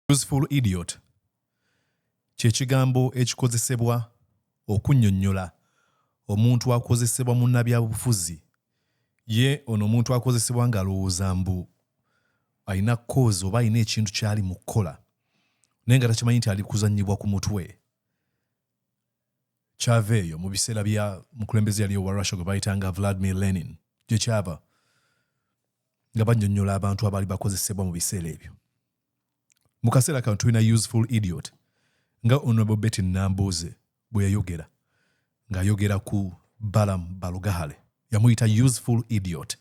Useful idiot kye kigambo ekikozesebwa okunnyonnyola omuntu akozesebwa munnabyabufuzi. Ye ono omuntu akozesebwa ng'alowooza mbu alina kkoozi oba alina ekintu ky'ali mu kukola naye nga takimanyi nti ali kuzannyibwa ku mutwe. Kyava eyo mu biseera bya mukulembeze yali owa Russia gwe bayitanga Vladimir Lenin gye kyava nga bannyonnyola abantu abaali bakozesebwa mu biseera ebyo. mu kaseera kano tulina useful idiot nga honorable betty nambuuze bwe yayogera ng'ayogera ku balamu balugahale yamuyita useful idiot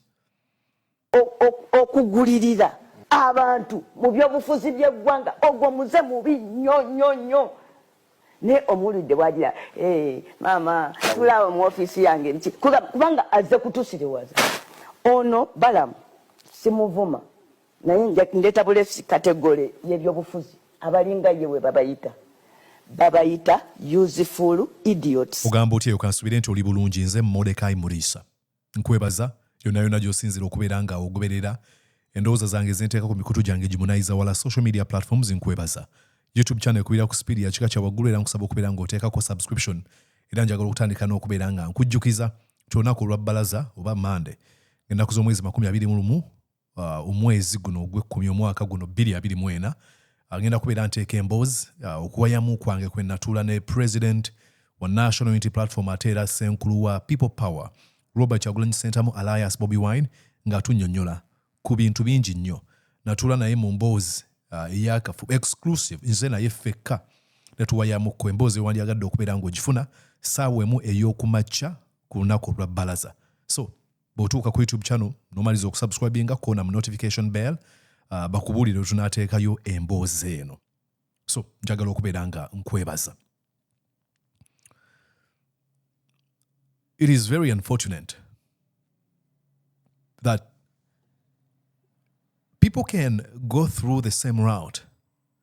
okugulirira abantu mu byobufuzi byeggwanga ogwo muze mubi nnyo nnyo nnyo naye omuwulidde bwagira eh, maama tulaawo mu ofiisi yange nti kubanga azze kutusiriwaza ono balamu simuvuma naye ndeta bulesi kategole yebyobufuzi abalinga ye webabayita babayita useful idiots ogamba otya eyo kansubire nti oli bulungi nze modekai muriisa nkwebaza yonayona gyosinzira okubeera nga ogoberera endowooza zange zenteeka ku mikutu gyange gimunayiza wala social media platforms nkwebaza youtube channel ekubira ku sipiidi yakika kya waggulu era nkusaba okubeera nga oteekako subscription era njagala okutandika n'okubeera nga nkujjukiza ti olunaku olwa bbalaza oba mande ennaku z'omwezi makumi abiri mu lumu uh, omwezi guno ogwekkumi omwaka guno bbiri abiri mu ena agenda kubeera nteeka emboozi uh, okuwayamu kwange kwe natuula ne president wa national unity platform ate era senkulu wa people power robert kyagulanyi sentamu alliance bobi wine ng'atunyonyola ku bintu bingi nnyo natuula naye mu mboozi uh, eyakafu exclusive nze naye ffekka netuwayamuko emboozi ewandyagadde okubeera ng'ogifuna saawa emu ey'okumakya ku lunaku olwa balaza so bw'otuuka ku youtube channel nomaliza okusubscribinga kona mu notification bell uh, bakubuulire tunateekayo emboozi eno so njagala okubeera nga nkwebaza it is very unfortunate that people can go through the same route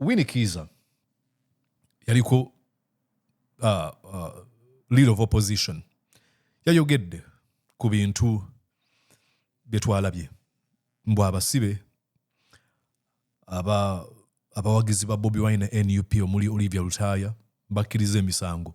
wini kiza yaliko uh, uh, lead of opposition yayogedde ku bintu byetwalabye mbu abasibe aba abawagizi ba bobi wine na nup omuli olivia lutaaya bakkiriza emisango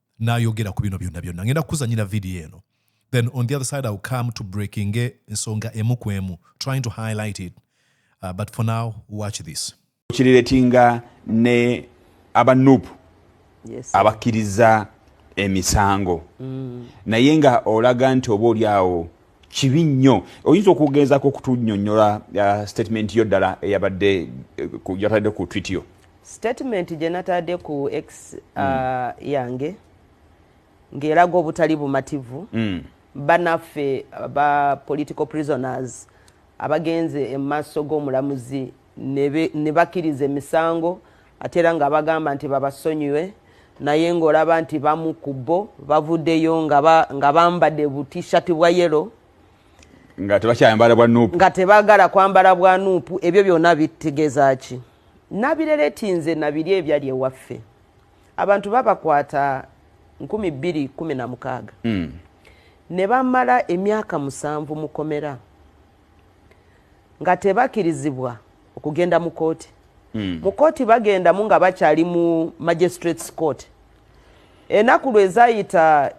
n'ayogera ku bino byonna byonna ngenda kukuzanyira vidiyo eno then on the other side iwill come to breaking ensonga emu ku emu trying to highlight it uh, but for now watch this kiriretinga ne aba nup yes, abakkiriza emisango mm. naye nga olaga nti oba oli awo kibi nnyo oyinza okugezaako okutunyonyola uh, statement yo ddala eyabadde uh, yatadde ku twitio Statement gye nataade ku X uh, mm. yange ng'eraga obutali bumativu mm. banaffe ba political prisoners abagenze emumaaso g'omulamuzi ne bakiriza emisango ate era nga bagamba nti babasonyiwe naye ng'olaba nti bamu ku bo bavuddeyo nga bambadde butishati bwa yelo nga tebakyayambala bwa nuupu nga tebagala kwambala bwa nuupu ebyo byonna bitegeeza ki Nabileleti nze nabirya ebyali ewaffe abantu babakwata nkumi bbiri kumi na mukaaga nebamala emyaka musanvu mukomera nga tebakirizibwa okugenda mukooti mukooti bagendamu nga bakyali mu magistrates court enaku lwezayita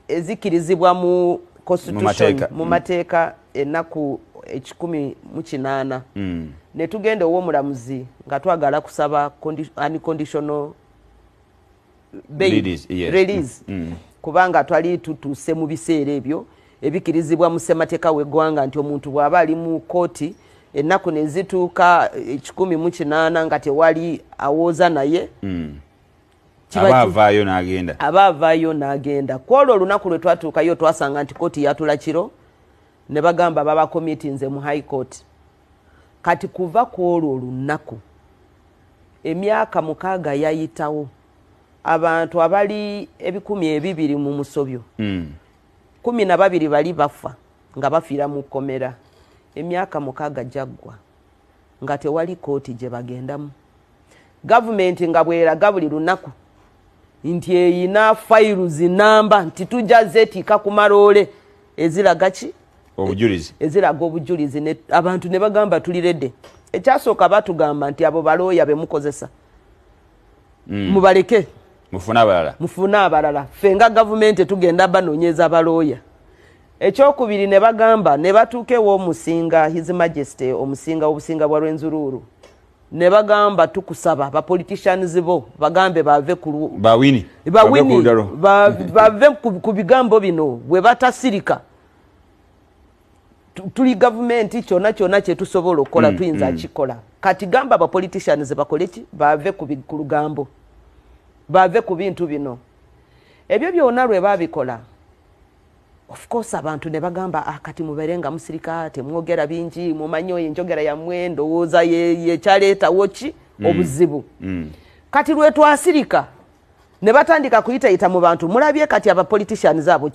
ezikkirizibwa mu constitution mu mm. mateeka enaku ekikumi mu kinaana mm. ne tugenda ow'omulamuzi nga twagala kusaba unconditional bail release mm. kubanga twali tutuuse mu biseera ebyo Ebikirizibwa mu ssemateeka w'eggwanga nti omuntu bw'aba ali mu kkooti ennaku ne zituuka ekikumi mu kinaana nga tewali awooza naye hmm. aba avaayo n'agenda aba avaayo n'agenda ku olwo olunaku lwe twatuukayo twasanga nti kkooti yatula kiro ne bagamba baba komiti nze mu high court kati kuva ku olwo olunaku emyaka mukaaga yayitawo abantu abali ebikumi ebibiri mu musobyo mm. kumi na babiri bali bafa nga bafiira mu kkomera emyaka mukaaga gyaggwa nga tewali kkooti gye bagendamu gavumenti nga bweraga buli lunaku nti eyina fayiru zinamba nti tujja zeetiika ku maloole eziraga ki obujulizi eziraga obujulizi abantu ne bagamba tuli rede ekyasooka batugamba nti abo balooya bemukozesa mm. mubaleke mufune abalala mufune abalala ffe nga gavumenti tugenda banonyeza balooya ekyokubiri ne bagamba ne batuuka ew'omusinga his majesty omusinga obusinga bwa lwenzuruuru ne bagamba tukusaba bapoliticians bo bagambe bave bawini bave ku bigambo bino bwe batasirika tuli gavumenti kyona kyona kyetusobola okukola mm, tuyinza mm. kikola kati gamba abapoliticians bakoleki bave ku lugambo bave ku bintu bino ebyo byona lwe babikola of course abantu ne bagamba ah, kati mubeere nga musirika temwogera bingi mumanyi oyo enjogera yammwe ndowooza yekyaleetawo ki mm, obuzibu kati lwetwasirika ne batandika kuyitayita mu bantu mulabye kati aba politicians abo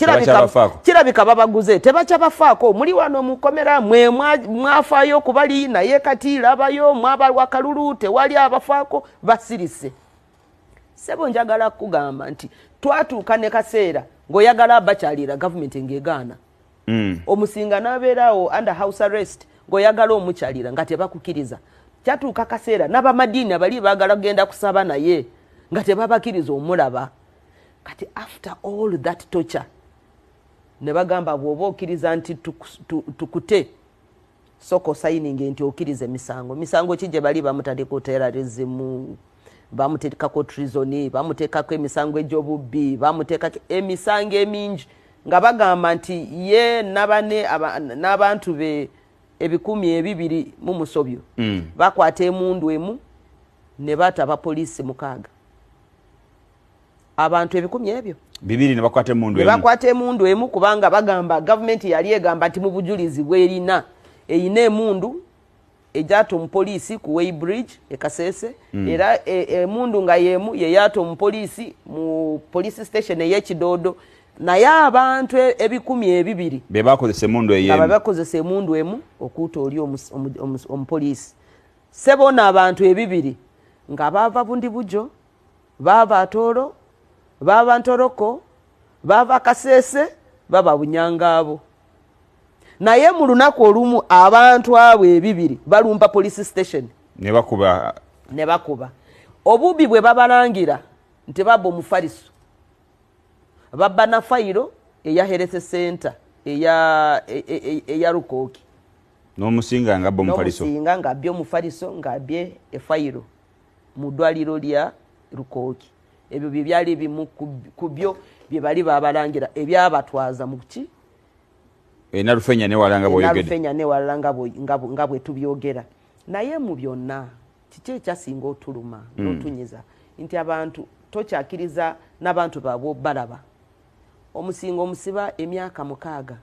kirabika babaguze tebakyabafaako muli wano mukomera mwe mwafaayo okubali naye kati labayo mwabalwa kalulu tewali abafaako basirise sebo njagala kugamba nti twatuuka ne kaseera ng'oyagala abakyalira gavumenti ng'egaana mm. omusinga nabeerawo under house arrest ngaoyagala omukyalira nga tebakukiriza kyatuuka kaseera nabamadiini abali bagala kugenda kusaba naye nga tebabakiriza omulaba kati after all that torture ne bagamba bwoba okiriza nti tukute Soka osayininge nti okiriza emisango. Misango ki gye bali bamutadeko terrorism, bamutekako treason, bamutekako emisango egy'obubbi, bamutekako emisango emingi nga bagamba nti ye nabane n'abantu be ebikumi ebibiri mu musobyo mm. bakwata emundu emu ne baata abapoliisi mukaaga. abantu ebikumi ebyo bibiri nebakwata emundu emu nebakwata emundu emu kubanga bagamba gavumenti yali egamba nti mu bujulizi bwerina eyina emundu egyata omupoliisi ku way bridge ekasese mm. era e, emundu e, nga yemu yeyata omupoliisi mu police station eyekidoodo naye abantu e, ebikumi ebibiri bebakozesa emundu eyebakozesa emundu emu okuuta oli omupoliisi sebona abantu ebibiri nga bava bundi bujo baava atoolo baava ntoroko baava kaseese baba bunyangaabo naye mu lunaku olumu abantu abo ebibiri balumba police station nebakuba nebakuba obubi bwe babalangira nti baba omufaliso babba na fayiro eya herese center eya e, e, e, eya rukooki nomusinga nga bba omufaliso nomusinga nga bye omufaliso nga bye efayiro mu ddwaliro lya lukooki ebyo bye byali ebimu ku byo bye bali babalangira ebyabatwaza mu ki enalufenya eh, newala nga bwoyogedenalufenya eh, newala nga bwe tubyogera naye mu byonna kiki ekyasinga otuluma hmm. notunyiza nti abantu tokyakiriza n'abantu baabwe balaba omusinga omusiba emyaka mukaaga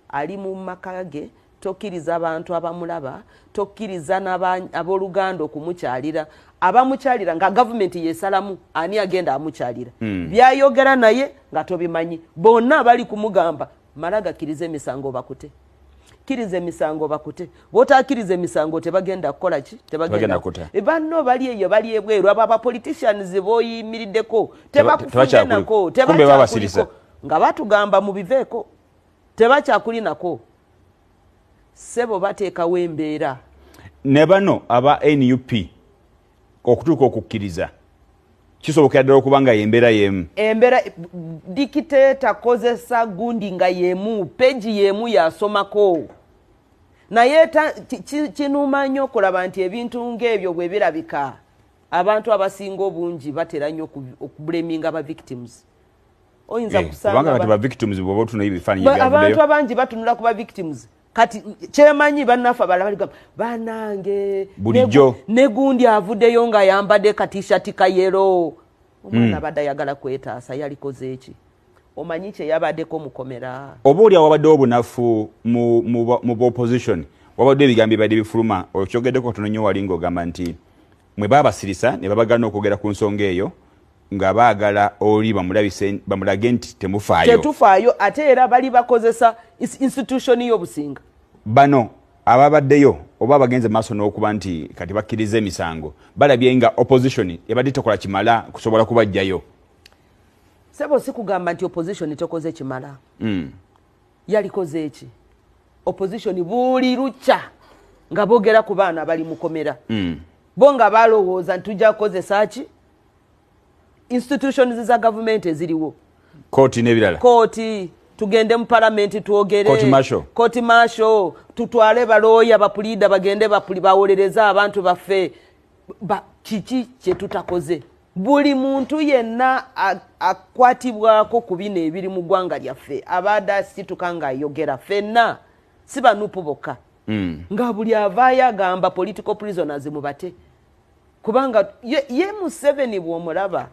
ali mu maka ge Tokkiriza bantu abamulaba, tokkiriza n'abooluganda okumukyalira. Abamukyalira nga gavumenti yeesalamu ani agenda amukyalira. Hmm. Byayogera naye nga tobimanyi. Bonna abali kumugamba mala gakkiriza emisango bakute. Kkiriza emisango bakute. Bw'otakkiriza emisango tebagenda kukola ki? Tebagenda kuta. E, banno bali eyo bali ebweru abo abapoliticians b'oyimiriddeko tebakufunyenako tebakyakuliko nga batugamba mubiveeko. tebakyakulinako sebo bateekawo embeera ne bano aba nup okutuuka okukkiriza kisobokera ddala okuba nga yembeera yemu embeera dikiteeta kozesa gundi nga yemu peji yemu yasomako naye kinuuma nnyo okulaba nti ebintu ngaebyo bwe birabika abantu abasinga obungi batera nnyo okubuleminga ba victims oyinza eh, kusanga kubanga kati ba victims bwoba otuna ebifaananyi byavudeyo abantu abangi batunula ku ba victims kati kyemanyi bannaffe abala baligamba banange bulijjo negundi avudeyo nga ayambadde katishati kayero omwana hmm. abadde ayagala kwetaasa yalikoze eki omanyi kyeyabaddeko mukomera oba oli awabaddewo obunafu mu opposition wabadde ebigambo bibadde bifuluma okyogeddeko tono nyo wali ngaogamba nti mwe babasirisa ne babagana okwogera ku nsonga eyo nga baagala oli bamulabise bamulage nti temufaayo tetufaayo ate era bali bakozesa institution y'obusinga bano ababaddeyo oba abagenze maaso n'okuba nti kati bakkiriza emisango balabye nga opposition ebadde tekola kimala kusobola kubajjayo sebo si kugamba nti opposition tekoze kimala mm. yalikoze eki opposition buli lukya nga bogera ku baana abali mukomera mm. bo nga balowooza nti tujja kukozesa ki institutions za gavumenti eziriwo kooti nebirala kooti tugende mu palamenti twogerekooti masho tutwale balooya bapuliida bagende bawolereze abantu baffe kiki kyetutakoze buli muntu yenna akwatibwako ku bino ebiri mu ggwanga lyaffe abaade asituka ngaayogera fenna si banupu bokka hmm. nga buli avaayo agamba political prisoners mubate kubanga ye, ye museveni bwomulaba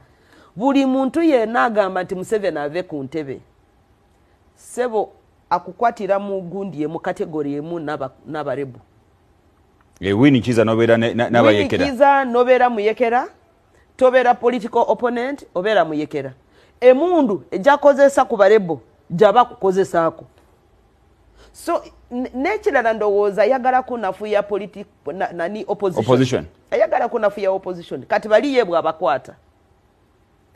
buli muntu yena agamba nti museveni ave ku ntebe sebo akukwatira mu gundi emu kategori emu nabarebu eh, wini kiza nobera nabayekera kiza nobera muyekera tobera political opponent obera muyekera emundu ejakozesa ku barebo jaba kukozesaako so nekirala ndowooza ayagala kunafuya politi na, nani opposition ayagala kunafuya opposition kati baliye bwabakwata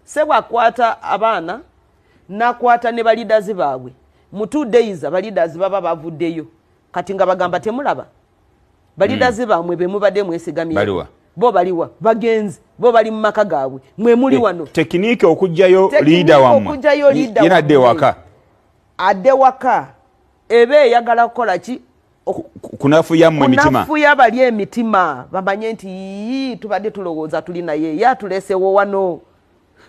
sebwakwata abaana nakwata ne balidazi baabwe mu two days abalidazi baba bavuddeyo kati nga bagamba temulaba balidazi mm. baamwe bemubadde mwesigamye bo baliwa bagenzi bo bali mu maka gaabwe mwe muli wano tekiniki okugjayo liida wamwe yenadde waka ade waka ebe eyagala kukola ki kunafuya mwe mitima kunafuya bali emitima bamanye nti yii tubadde tulowooza tuli naye ye atulesewo wano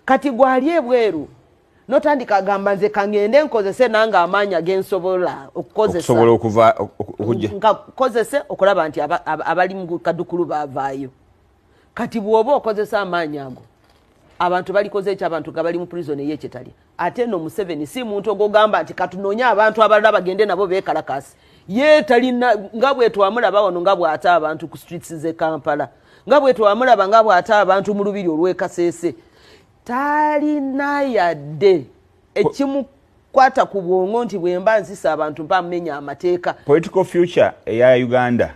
kati gwali ebweru notandika agamba nze kangende nkozese nange amaanyi agensobola okukozesaobola okuva okukozese okulaba nti abali mukadukulu bavaayo kati bwoba okozesa amaanyi ago abantu balikoze ekyo abantu nga bali mu prison eyekyetali ate no museveni si muntu ogogamba nti katunonye abantu abalala bagende nabo bekalakasi ye talina nga bwetwamulaba wano nga bwata abantu ku streets ze kampala nga bwetwamulaba nga bwata abantu mu lubiri olwekasese talina yadde ekimu kwata ku bwongo nti bwemba nzisa abantu mpamumenya amateeka political future eya uganda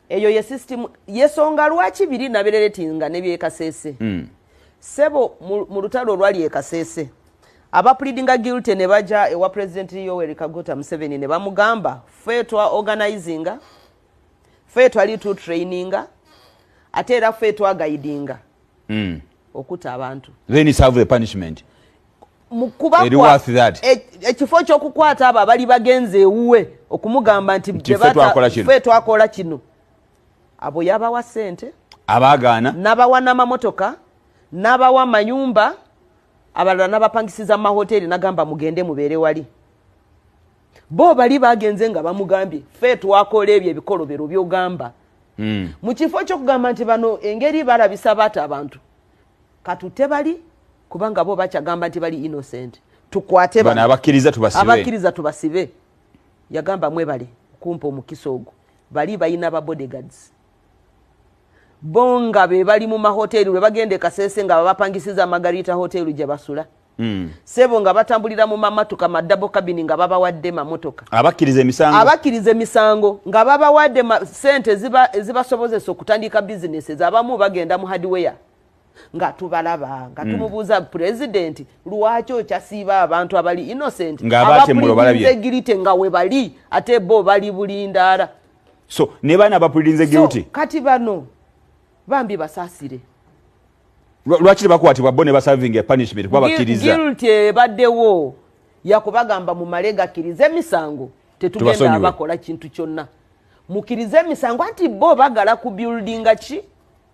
eyo ye system yesonga lwaki biri nabereretinga nebyekasese mm. sebo mu lutalo olwali ekasese aba pleadinga guilty ne baja ewa president yoweri kaguta museveni ne bamugamba fe twa organizinga fe twali tu traininga ate era fe twa guidinga mm. okuta abantu then serve the punishment ekifo kyokukwata abo abali bagenze ewuwe okumugamba nti fe twakola kino abo yabawa sente abagaana nabawa namamotoka nabawa mayumba abalala nabapangisiza mumahoteeri nagamba mugende mubeere wali bo bali bagenze nga bamugambye fe twakola ebyo ebikolobero byogamba hmm. mu kifo kyokugamba nti bano engeri balabisa baata abantu katute bali kubanga bo bakyagamba nti bali innocent tukwate bano abakkiriza tubasibe abakkiriza tubasibe yagamba mwebale kumpa omukisa ogwo bali balina ba bodyguards bo nga be bali mu mahoteli lwe bagenda ekasese nga babapangisiza magarita hoteli gye basula hmm. sebo nga batambulira mu mamatuka madabo kabini nga babawadde mamotoka abakkiriza emisango abakkiriza emisango nga babawadde sente ezibasobozesa okutandika bizinesi zabamu bagenda mu hardware nga tubalaba nga mm. tumubuuza pulezidenti lwaki okyasiiba abantu abali innocent abapuliinzegirite nga webali ate bo bali bulindaala so ne baana abapuliinzegirite kati bano bambi basaasire lwaki tebakwatibwa bo ne basavinga punishment kuba bakkiriza ebaddewo yakubagamba mumale gakkiriza emisango tetugenda bakola kintu kyonna mukirize emisango anti bo bagala ku buildinga ki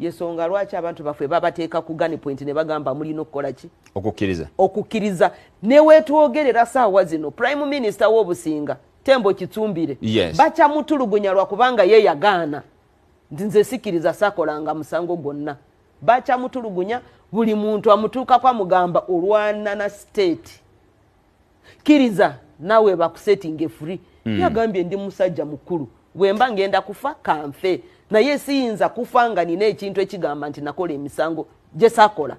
yesonga lwaki abantu baffe babateeka ku gani point ne bagamba mulina okukola ki okukkiriza okukkiriza newetwogerera saawa zino prime minister wobusinga tembo kitsumbire yes. bakyamutulugunya lwakubanga ye yagaana nti nze sikiriza sakolanga musango gwonna bakyamutulugunya buli muntu amutuukako amugamba olwanana state kiriza nawe bakusetinge free mm. yagambye ndi musajja mukulu bwemba ngenda kufa kanfe naye siyinza kufa nga nina ekintu ekigamba nti nakola emisango gyesakola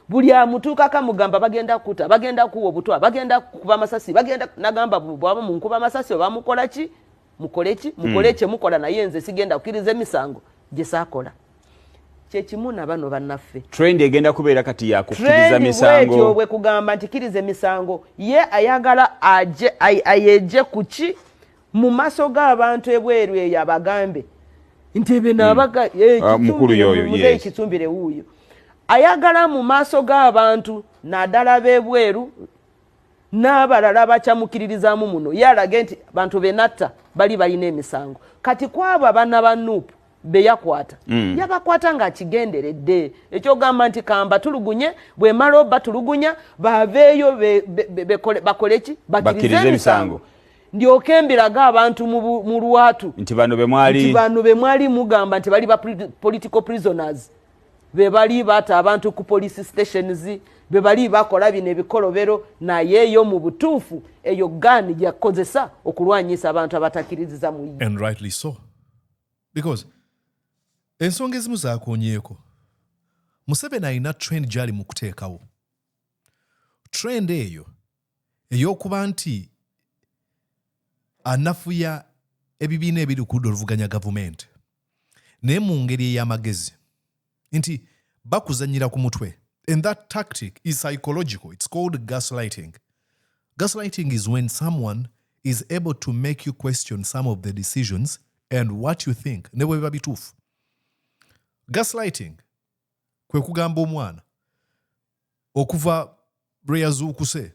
buli amutuukaka mugamba bagenda kukuta bagenda kuwa obutwa bagenda kukuba amasasi bagenda nagamba bwaba munkuba amasasi oba mukolaki mukoleki mukole mm. kyemukola naye nze sigenda kukiriza emisango gyesakola kyekimu nabano banaffe trend egenda kubeera kati yakukiriza misango bwe kugamba nti kiriza emisango ye ayagala aje ayeje kuki mu maso g'abantu ebweru eyo abagambe nti ebyo nabaga hmm. eh, ah, mukulu yoyo yes kitumbire wuyo ayagala mu maso g'abantu nadala bebweru n'abalala bakyamukiririzamu muno ye alage nti bantu benatta bali balina emisango kati kwabo abana ba nupu beyakwata mm. yabakwata nga akigenderedde ekyogamba nti kamba tulugunye bwemala oba tulugunya baveeyo bakoleki bakirize emisango ndyoke mbirage abantu mu lwatu nti bano bemwali mugamba nti bali ba political prisoners bebali bata abantu ku police stations bebali bakola bino ebikolobero naye yo mu butuufu eyo gani yakozesa okulwanyisa abantu abatakiriziza mu because ensonga ezimu zakonyeeko museveni alina trend gyali mu kuteekawo trend eyo ey'okuba nti anafuya ebibiina ebiri ku ludda oluvuganya gavumenti naye mu ngeri ey'amagezi nti bakuzanyira ku mutwe and that tactic is psychological it's called gaslighting gaslighting is when someone is able to make you question some of the decisions and what you think ne bwe biba bituufu gaslighting kwe kugamba omwana okuva lwe yazuukuse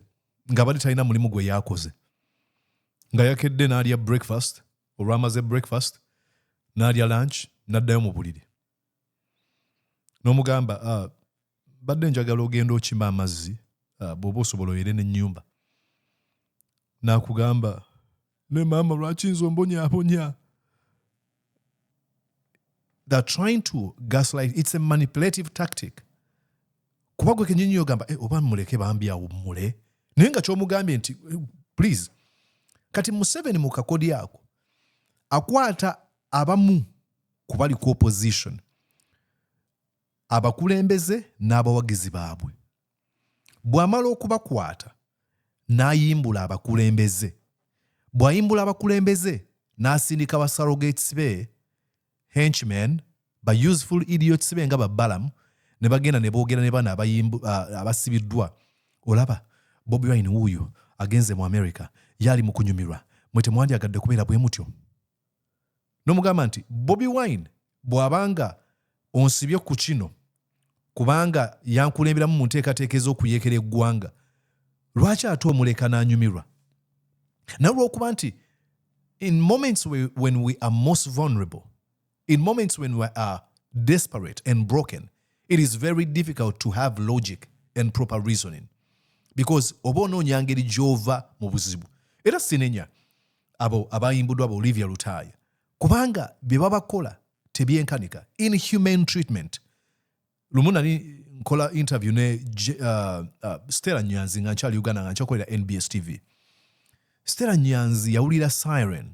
nga bali talina mulimu gwe yakoze nga yakedde n'alya breakfast olwamaze breakfast n'alya lunch n'addayo mu buliri n'omugamba ah, badde njagala ogenda okima amazzi ah, bwoba osobola oyere nenyumba nakugamba ne maama lwaki nze ombonyabonya they're trying to gaslight it's a manipulative tactic kuba gwe kenyini yogamba eh, oba muleke bambi awummule naye nga kyomugambye nti eh, please kati museveni mu kakodi ako akwata abamu ku bali ku opposition abakulembeze n'abawagizi baabwe bw'amala okubakwata n'ayimbula abakulembeze bw'ayimbula abakulembeze n'asindika ba surrogates be henchmen ba useful idiots be nga ba balamu ne bagenda ne boogera ne bana ah, abasibiddwa olaba bobi wine wuuyo agenze mu america yaali mu kunyumirwa mwe temwandyagadde kubeera bwe mutyo nomugamba nti bobi wine bwabanga onsibye ku kino kubanga yankulemberamu mu nteekateeka ez'okuyekera eggwanga lwaki ate omuleka n'anyumirwa naye olwokuba nti in moments we, when we are most vulnerable in moments when we are desperate and broken it is very difficult to have logic and proper reasoning because oba onoonya ngeri gy'ova mu buzibu era sinenya abo abayimbudwa ba olivia lutaaya kubanga bye babakola tebyenkanika inhumane treatment lumu nali nkola interview ne uh, uh, stela nyanzi nga nkyali uganda nga nkyakolera nbs tv stela nyanzi yawulira siren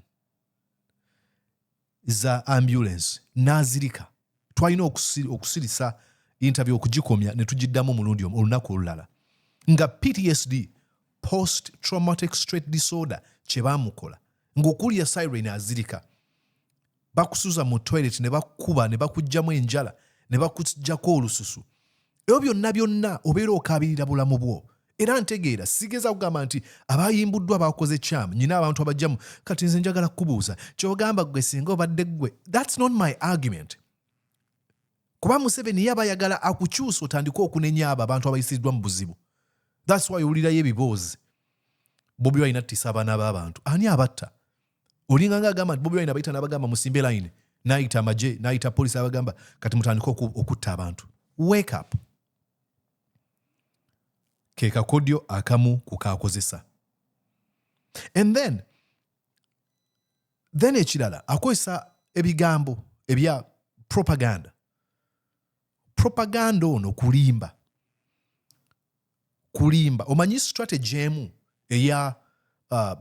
za ambulance n'azirika twalina okusirisa interview okugikomya ne tugiddamu omulundi omu olunaku olulala nga ptsd post traumatic straight disorder kye baamukola ng'okuwulira siren azirika bakusuza mu toilet ne bakukuba ne bakugyamu enjala ne bakujjako olususu ebyo byonna byonna obeera okaabirira bulamu bwo era ntegeera sigeza kugamba nti abayimbuddwa bakoze kyamu nyina abantu abajjamu kati nze njagala kukubuuza kyogamba gwe singa obadde ggwe thats not my argument kuba museveni ye abayagala akukyusa otandike okunenya abo abantu abayisiddwa mu buzibu thats wy owulirayo ebiboozi bobi balina tisa abaana b'abantu ani abatta olinga nga agamba nti bobi wine abayita nabagamba musimbe line nayita amaje nayita polisi abagamba kati mutandika okutta abantu wake up kekakodyo akamu kukakozesa and then then ekirala akozesa ebigambo ebya propaganda propaganda ono kulimba kulimba omanyi strategy emu eya uh,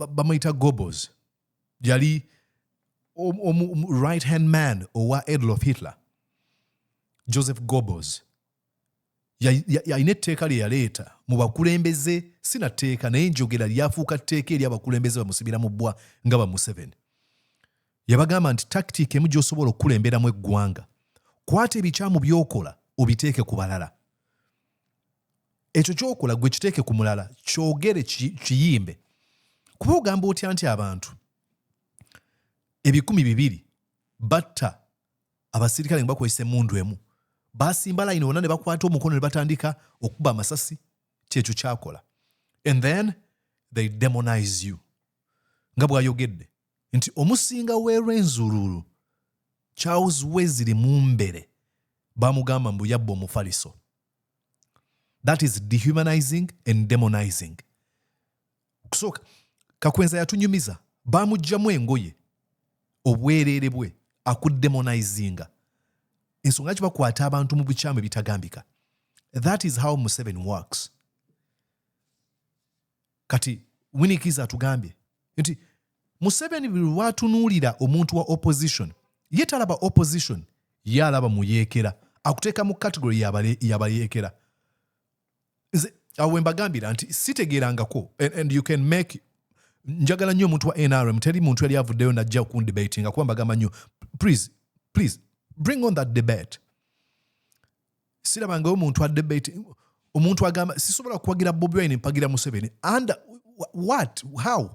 bamuyita gobos yali um, um, um, right hand man owa adolf hitler joseph gobos yalina etteeka lye yaleeta mu bakulembeze si na tteeka naye njogera lyafuuka tteeka eri abakulembeze bamusibira mu bbwa nga ba museveni yabagamba nti takitiika emu gy'osobola okukulemberamu eggwanga kwata ebikyamu by'okola obiteeke ku balala ekyo kyokola gwe kiteeke ku mulala kyogere kiyimbe kuba ogamba otya nti abantu ebikumi bibiri batta abasirikale nga bakozesa emundu emu basimba layini wonna ne bakwata omukono ne batandika okukuba amasasi kyekyo kyakola and then they demonize you nga bwayogedde nti omusinga w'e Rwenzururu, Charles Wesley Mumbere bamugamba mbu yabba omufaliso. That is dehumanizing and demonizing. Kusooka Kakwenza yatunyumiza, baamuggyamu engoye obwereere bwe akuddemonizinga ensonga lwaki bakwata abantu mu bukyamu ebitagambika that is how museven works kati winikiza atugambye nti museveni buli lwatunuulira omuntu wa opposition ye talaba opposition ye alaba muyeekera akuteeka mu kategori yabayeekera nze awo wembagambira nti sitegeerangako and you can make njagala nnyo omuntu wa nrm teri muntu yali avuddeyo najja okundebatinga kuba mbagamba nnyo please please bring on that debate sirabangayo omuntu adebate omuntu agamba sisobola kuwagira bobi wine mpagira museveni under what how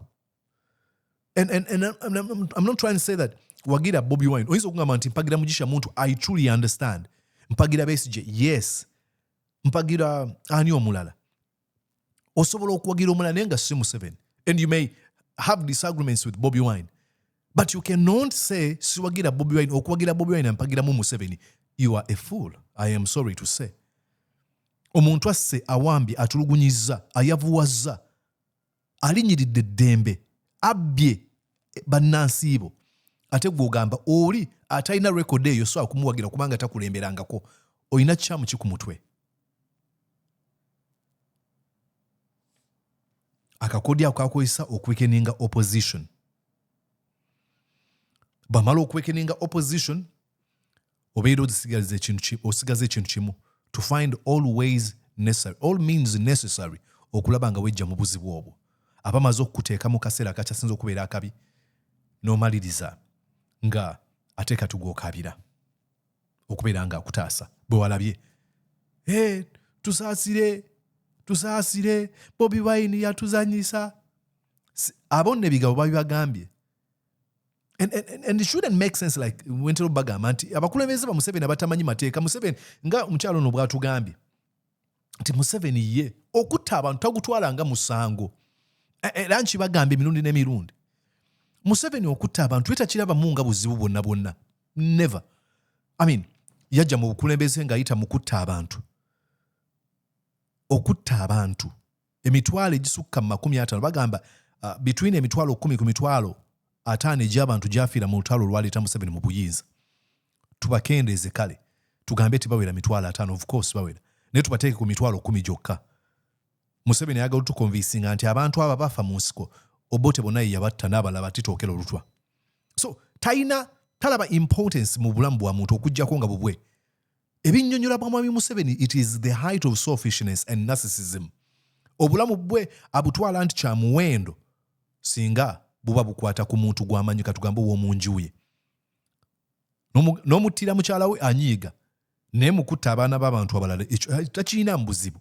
and, and, and I'm, I'm, I'm not trying to say that wagira bobi wine oyinza okugamba nti mpagira mugisha muntu i truly understand mpagira besije yes mpagira ani omulala osobola okuwagira omulala naye nga si museveni and you may have disagreements with bobi wine but you cannot say siwagira bobi wine okuwagira bobi wine ampagiramu museveni you are a fool i am sorry to say omuntu asse awambye atulugunyizza ayavuwazza alinyiridde eddembe abbye eh, bannansiibo ate gwogamba oli atalina rekodi eyo sobola kumuwagira kubanga takulemberangako olina kikyamu ki ku mutwe akakodi ako kakozesa okuwekeninga opposition bamala okuwekeninga opposition obeera ozisigaliza ekintu osigaza ekintu kimu to find all ways necessary all means necessary okulaba nga wejja mu buzibu obwo aba maze okukuteeka mu kaseera akakyasinza okubeera akabi n'omaliriza nga ate kati gwokabira okubeera nga akutaasa bwe walabye e tusaasire tusaasire bobi wine yatuzanyisa abo nebigabo babibagambye And, and, and it shouldn't make sense like wentero bagamba nti abakulembeze ba museveni abatamanyi mateeka museveni nga omukyalo ono bwatugambye nti museveni ye okutta abantu tagutwala nga musango e, e, era nkibagamba emirundi n'emirundi museveni okutta abantu etakirabamu nga buzibu bwonna bwonna never i mean yajja mu bukulembeze ng'ayita mu kutta abantu okutta abantu emitwalo egisukka mu makumi ataano bagamba uh, between emitwalo kumi ku mitwalo ataano egy'abantu gyafiira mu lutalo olwaleeta museveni mu buyinza tubakendeeze kale tugambe ti bawera mitwalo ataano of course bawera naye tubateeke ku mitwalo kumi gyokka museveni ayagala otukonvisinga nti abantu abo bafa mu nsiko obote bonna ye yabatta n'abalala batitookera olutwa so talina talaba importance mu bulamu bwa muntu okugyako nga bubwe Ebinyonyola bwa Mwami Museveni it is the height of selfishness and narcissism. Obulamu bwe abutwala nti kya muwendo singa buba bukwata ku muntu gw'amanyi katugambe ow'omunjuye n'omuttira mukyala we anyiiga naye mukutta abaana b'abantu abalala ekyo eh, takiinamu buzibu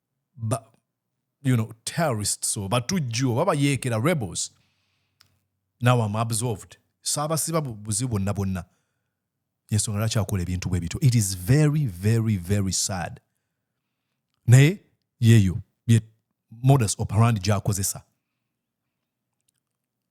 ba, you know, terrorists or batujju oba bayeekera rebels now am absolved saabasiba buzibu bonna bonna yensonga lwaki akola ebintu bwe bityo it is very very very sad naye yeeyo ye modus operandi gyakozesa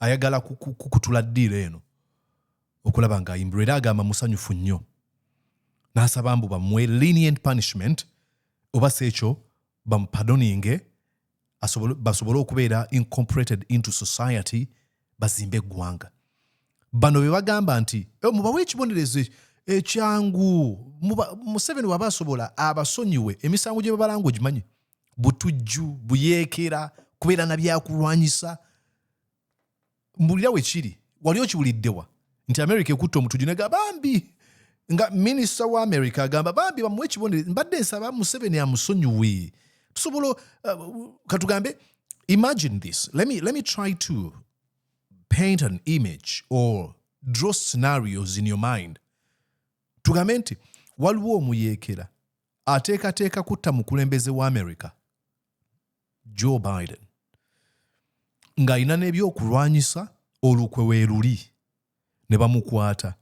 ayagala kukutula ddiiro eno okulaba ng'ayimbirwa era agamba musanyufu nnyo n'asaba mbu bamuwe lenient punishment oba si ekyo bamupadoninge basobole okubeera incorporated into society bazimbe eggwanga bano be bagamba nti eh, mubawe ekibonerezo ekyangu museveni waba asobola abasonyiwe emisango gye babalanga ogimanyi butujju buyeekera kubeera na byakulwanyisa mbulira wekiri wali okiwuliddewa nti america ekutta omutujju nega bambi nga minisita wa america agamba bambi bamuwa ekibonere mbadde nsaba museveni amusonyiwe tusobola uh, katugambe imagine this let me, let me try to paint an image or draw scenarios in your mind tugambe nti waliwo omuyeekera ateekateeka kutta mukulembeze wa america joe biden ng'alina n'ebyokulwanyisa olukwe weeruli ne bamukwata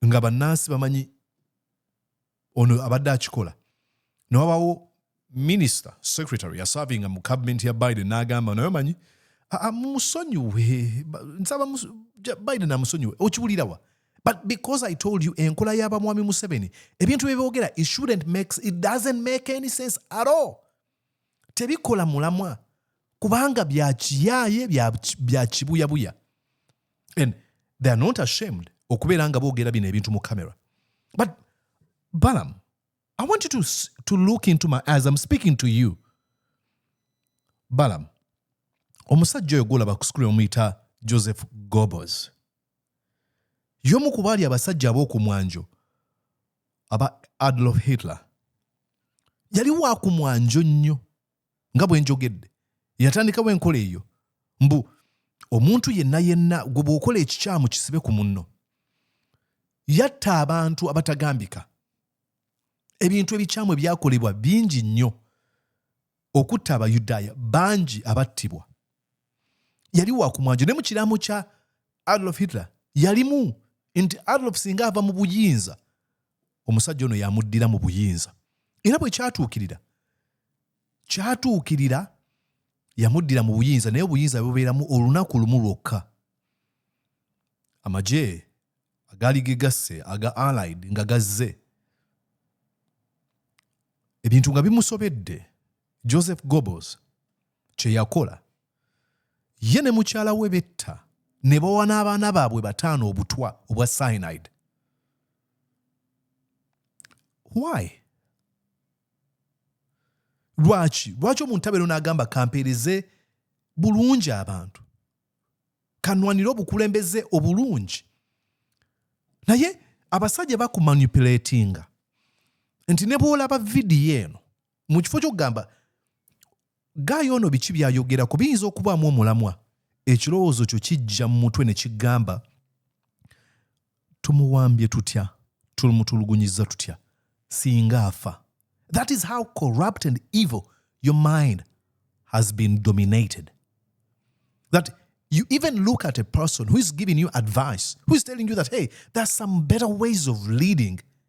nga bannansi bamanyi ono abadde akikola ne wabawo Minister, secretary yasavinga mu cabinet ya Biden n'agamba naye omanyi musonyiwe nsaba Biden amusonyiwe okiwulirawa but because I told you enkola y'aba mwami Museveni ebintu bye boogera it shouldn't make it doesn't make any sense at all tebikola mulamwa kubanga bya kiyaaye bya kibuyabuya and they are not ashamed okubeera nga boogera bino ebintu mu camera but balam I want you to, to look into my eyes. I'm speaking to you. Balaam, omusajja oyo gwolaba ku sikuli omuyita Joseph Goebbels. Y'omu ku baali abasajja ab'oku mwanjo aba Adolf Hitler. Yali wa ku mwanjo nnyo. nga bwe njogedde yatandikawo enkola eyo mbu omuntu yenna yenna gwe bw'okola ekikyamu kisibe ku munno yatta abantu abatagambika ebintu ebikyamu ebyakolebwa bingi nnyo okutta abayudaaya bangi abattibwa yali wakumwanjo ne mu kiraamo kya adolf hitler yalimu nti adolf singa ava mu buyinza omusajja ono yamuddira mu buyinza era bwe kyatuukirira kyatuukirira yamuddira mu buyinza naye obuyinza bubeeramu olunaku lumu lwokka amagye agaali gegasse aga allied nga gazze ebintu nga bimusobedde joseph gobos kye yakola Ye ne mukyala we betta ne bawa n'abaana baabwe bataano obutwa obwa cyanide. Why? Lwaki? Lwaki omuntu abeera n'agamba kampeereze bulungi abantu kanwanire obukulembeze obulungi naye abasajja bakumanipulatinga nti ne bwolaba vidiyo eno mu kifo kyokugamba Ggaayi ono biki by'ayogerako? Biyinza okubaamu omulamwa. Ekirowoozo kyo kijja mu mutwe ne kigamba, Tumuwambye tutya? Tumutulugunyizza tutya? Singa afa. That is how corrupt and evil your mind has been dominated. That you even look at a person who is giving you advice, who is telling you that, hey, there are some better ways of leading.